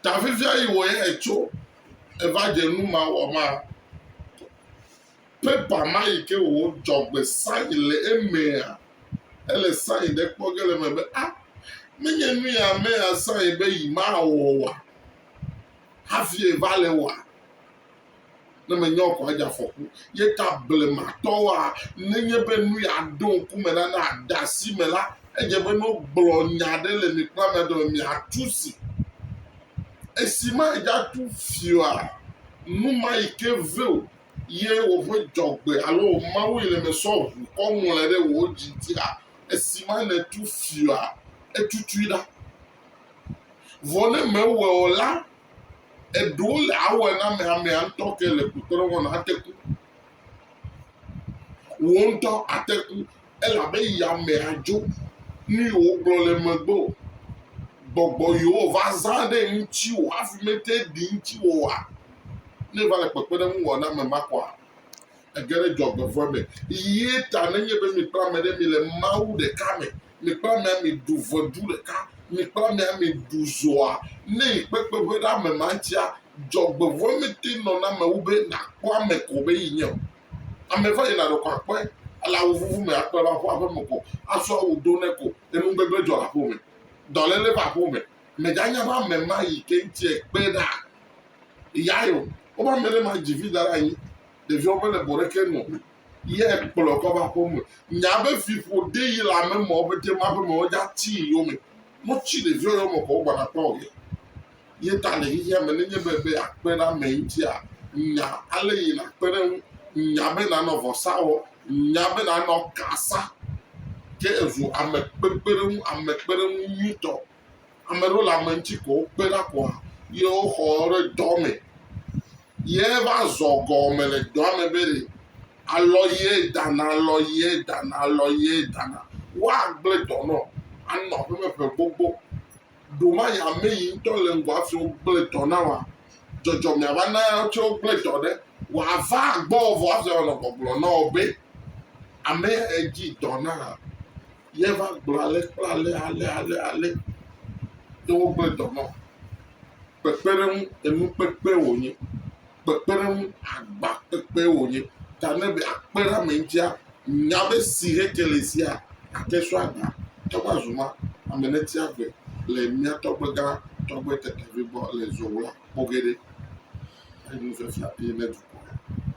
Ta vevia yi wɔ yɛ tso eva dze nu ma wɔ ma. Pepa ma yi ke wò dzɔgbe sayi le emea, ele sayi ɖe kpɔ ge le me be a menye nu ya amea sayi be yi ma wɔ wa hafi va le wa. Ne menye o koa, edze afɔku. Ye ta blematɔwoa, nenye be nu ya ɖo ŋku me na ne ade asi me la, edze be ne wogblɔ nya ɖe le mi kple amea dome, miatu si. Esi madze atu si oa, nu ma yi ke ve wò ye woƒe dzɔgbe alo wò Mawu yi le eme sɔ ʋu kɔ ŋlɔe ɖe wò dzi ŋuti hã. Esi ma nètu si oa, etutui ɖa. Vɔ ne mewɔe o la, eɖewo le awɔe na ame amea ŋutɔ ke le kpɔtɔɖe wɔna ate ku. Wò ŋutɔ ate ku elabe yame adzo nu yi wògblɔ le megbe o. Gbɔgbɔ yewo va zã ɖe ŋutiwò hafi mete ɖi ŋutiwò oa, ne va le kpekpeɖeŋu wɔ na ame ma kɔa? Ege ɖe dzɔgbevɔ̃e me. Yiyee ta nenye be mi kple ame ɖe mile Mawu ɖeka me, mi kple amea miɖu ʋedu ɖeka, mi kple amea miɖu zoa, ne yi kpekpeƒe ɖe ame ma ŋutia, dzɔgbevɔ̃e mete nɔna eme wu be nàkpɔ ame ko be yi nye o. Ame va yina ɖeko akpɔe, ele awu vuvu me akpɔe va ƒu aƒe me ko, asɔ awu do nɛ ko, enugbegblẽ dzɔ le aƒewo me, dɔléle va aƒewo me. Mèganya be ame ma yi ke ŋuti ekpe ɖaa yae o. Woƒe ame ɖe ma dzi vi da ɖe anyi ɖeviwo mele bɔ ɖeke nɔ ye ekplɔ kɔ va ƒo me nya be vi ƒo de yi le ame mɔ be de ma be mɔ dza ti yo me mo tsi le vi yo me kɔ gba na kpɔ ye ye ta le yi ya me ne nye be be akpe na me ŋti a nya ale yi na kpe ne nya be na nɔ vɔsa wɔ nya be na nɔ kasa ke ezu ame kpekpe ɖe ŋu ame kpe ɖe ŋu nyutɔ Ame ɖewo le ame ŋuti ko wokpe ɖa koa ye woxɔ ɖe dɔ me. Ye va zɔ gɔme le dɔa me be ɖe alɔ ye dana, alɔ ye dana, alɔ ye dana. Woagblẽ dɔ nɔ anɔ aƒe me ƒe gbogbo. Ɖomaya ame yi ŋutɔ le ŋgɔ hafi wogblẽ dɔ na woa, dzɔdzɔme ava na eya ŋuti wogblẽ dɔ ɖe. Wòava gbɔwò vɔ hafi wòanɔ gbɔgblɔm na wò be, Ame yae dzi dɔ na. ye va gblɔ ale kple ale ale ale ale ye wogblɔe dɔ nɔ. Kpekpeɖeŋu enukpekpe wònye. Kpekpeɖeŋu agba kpekpe wònye. Ta ne be akpe ɖe ame ŋutia, nya be si hekele sia ate sɔ agba tɔ va zu ma, ame neti agbe le mía tɔgbe gã tɔgbe tetevi gbɔ le zowla kpɔ ge ɖe. Enufia fia ye ne dukɔ.